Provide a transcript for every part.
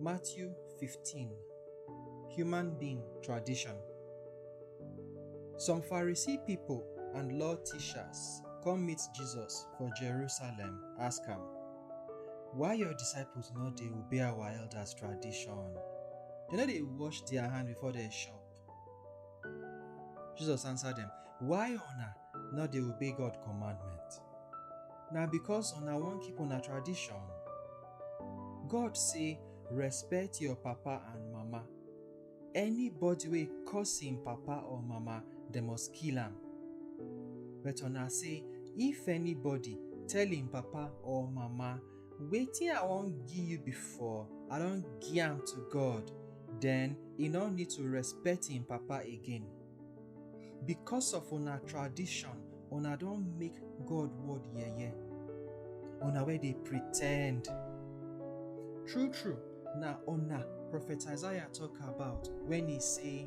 Matthew 15 Human Being Tradition Some Pharisee people and law teachers come meet Jesus for Jerusalem, ask am, Why your disciples no dey obey our elders' tradition? Dem no dey wash their hand before dem chop, Jesus answer dem, Why una no dey obey God commandment? Na because una wan keep una tradition. God say, Respect your papa and mama. Anybody wey curse im papa or mama, dem must kill am. But una say, If anybody tell im papa or mama, Wetin I wan gi yu bifor, I don gi am to God, den e nor nid to respet en papa again. Bikos of una tradishon, una don mek God wod yeye, una wey dey pretend. Tru-tru, na una Profet Isaiah tok abaut wen e sey.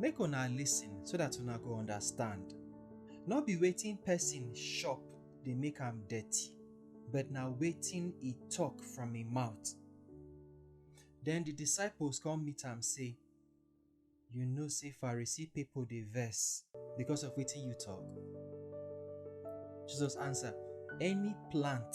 Make una listen so that una go understand. No be wetin person chop dey make am dirty, but na wetin e talk from im mouth. Then the disciples come meet am say, You know say Pharisee people dey vex because of wetin you talk? Jesus answer, Any plant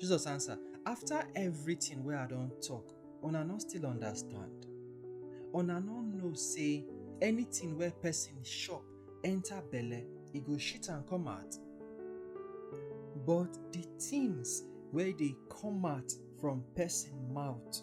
Jesus answer, After everything wey I don talk, una no still understand? Una no know say anything wey person chop enter belle, e go shit am come out? But the things wey dey come out from person mouth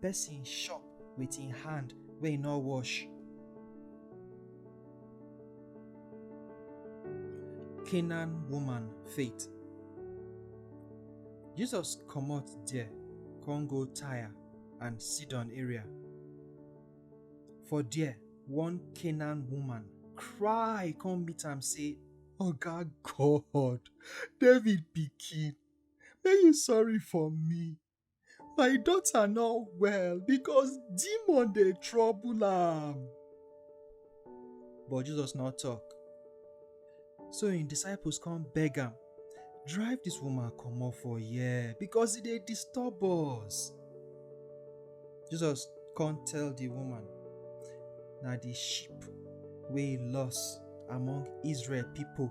person chop with him hand wey no wash. Canaan woman faith. Jesus comot there come go Tyre and Sidon area. For there, one Canaan woman cry come meet am say, Oga God, David pikin, make you sorry for me. My daughter not well because demon dey trouble am. But Jesus no talk. So im disciples come beg am, drive dis woman comot for here because e dey disturb us. Jesus come tell di woman, na di sheep wey e loss among Israel pipo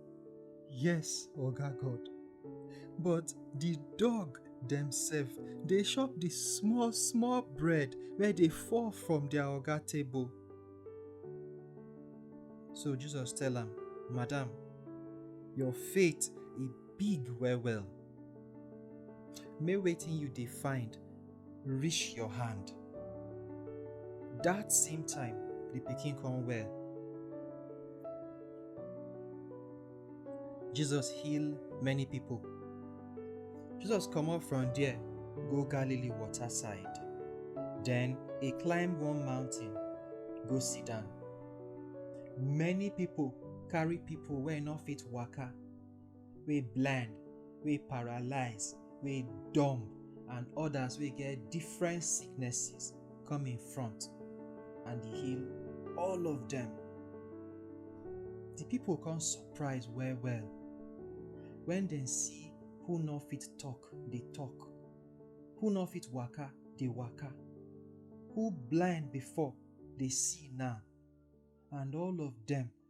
Yes, Oga God. But the dog themselves, they chop the small, small bread where they fall from their Oga table. So Jesus tell am, Madam, your faith e big well well. Make wetin you dey find reach your hand. That same time, the pikin come well. Jesus heal many people. Jesus comot from there go Galilee water side. Then he climb one mountain go sit down. Many people carry people wey no fit waka wey blind, wey paralyze, wey dumb and others wey get different sicknesses come in front and e heal all of dem. Di pipo come surprise well-well wen dem see who no fit tok dey tok, who no fit waka dey waka, who blind before dey see now and all of dem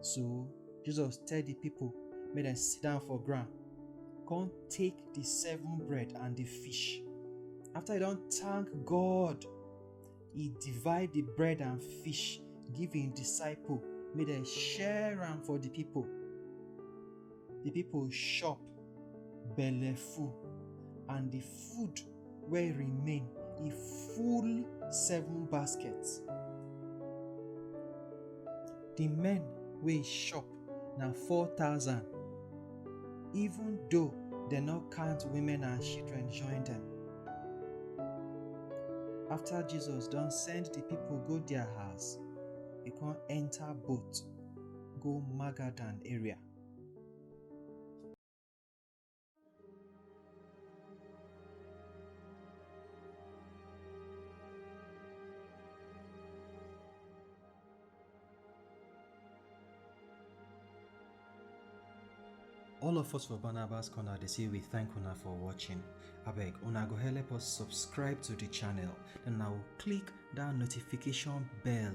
So Jesus tell the people, make them sit down for ground. Come take the seven bread and the fish. After he don't thank God, he divide the bread and fish, give him disciple, make them share them for the people. the people chop belle full and the food wey remain e full seven baskets. The men wey chop na four thousand even though dem no count women and children join dem. After Jesus don send the people go their house, e come enter boat go Magadan area. all of us for barnabas corner dey say we thank una for watching abeg una go help us subscribe to the channel and now click that notification bell